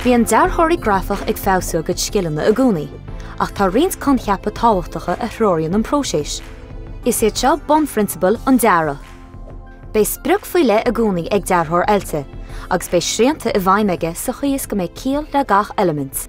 Bíonn dearthóirí grafach ag feabhsú a gcuid scileanna i gcónaí, ach tá roinnt coincheapa tábhachtacha a threoraíonn an próiseas. Is iad seo bunphrionsabail an dearaidh. Beidh sprioc faoi leith i gcónaí ag dearthóir oilte, agus beidh srianta i bhfeidhm aige sa chaoi is go mbeidh ciall le gach eilimint.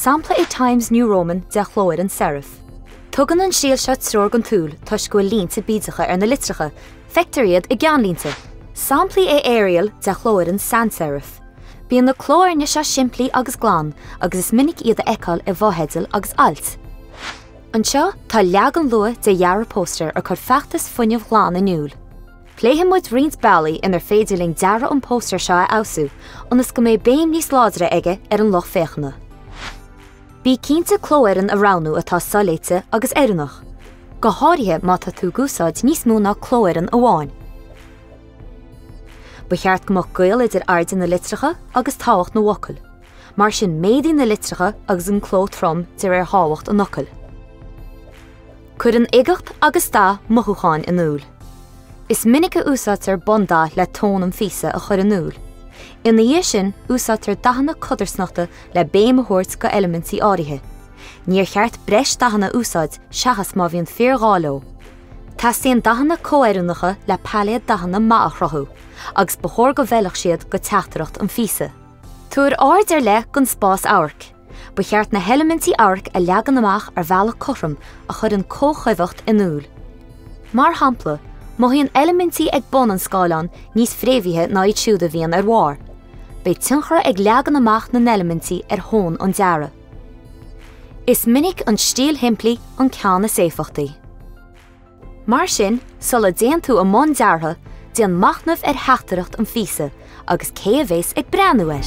Sampla é Times New Roman de chlófhoireann serif. Tugann an stíl seo treoir don tsúil toisc go bhfuil línte bídeacha ar na litreacha, feictear iad i gceannlínte. Sampla é Arial de chlófhoireann sans-serif. Bíonn na clófhoirne seo simplí agus glan, agus is minic iad a fheiceáil i bhfotheidil agus ailt. Anseo tá leagan luath de dhearadh póstaeir a chuir feachtas fuinnimh ghlain in iúl. Pléifidh muid roinnt bealaí inar féidir linn dearadh an phóstaeir seo a fheabhsú ionas go mbeidh béim níos láidre aige ar an lucht féachana. Bí cinnte clófhoireann a roghnú atá soléite agus oiriúnach, go háirithe má tá tú ag úsáid níos mó ná clófhoireann amháin. Ba cheart go mbeadh gaol idir airde na litreacha agus tábhacht na bhfocal, mar sin méadaigh na litreacha agus an cló trom de réir thábhacht an fhocail. Cuireann uigeacht agus dath mothúcháin in iúl. Is minic a úsáidtear bundath le tón an phíosa a chur in iúl. Ina dhiaidh sin, úsáidtear dathanna codarsnachta le béim a thabhairt do eilimintí áirithe. Níor cheart breis dathanna a úsáid seachas má bhíonn fíor ghá leo. Teastaíonn dathanna comhoiriúnacha le pailéad dathanna maith a chruthú, agus ba chóir go bhfeilfeadh siad do teachtaireacht an phíosa. Tabhair aird ar leith don spás amhairc. Ba cheart na heilimintí amhairc a leagan amach ar bhealach cothrom a chuireann comhchuibheacht in iúl. Mar shampla, mothaíonn eilimintí ag bun an scáileáin níos fréamhaithe ná iad siúd a bhíonn ar bharr. Beidh tionchar ag leagan amach na n-eilimintí ar thon an dearaidh. Is minic an stíl shimplí an ceann is éifeachtaí. Mar sin, sula dtéann tú i mbun deartha, déan machnamh ar theachtaireacht an phíosa agus cé a bheas ag breathnú air.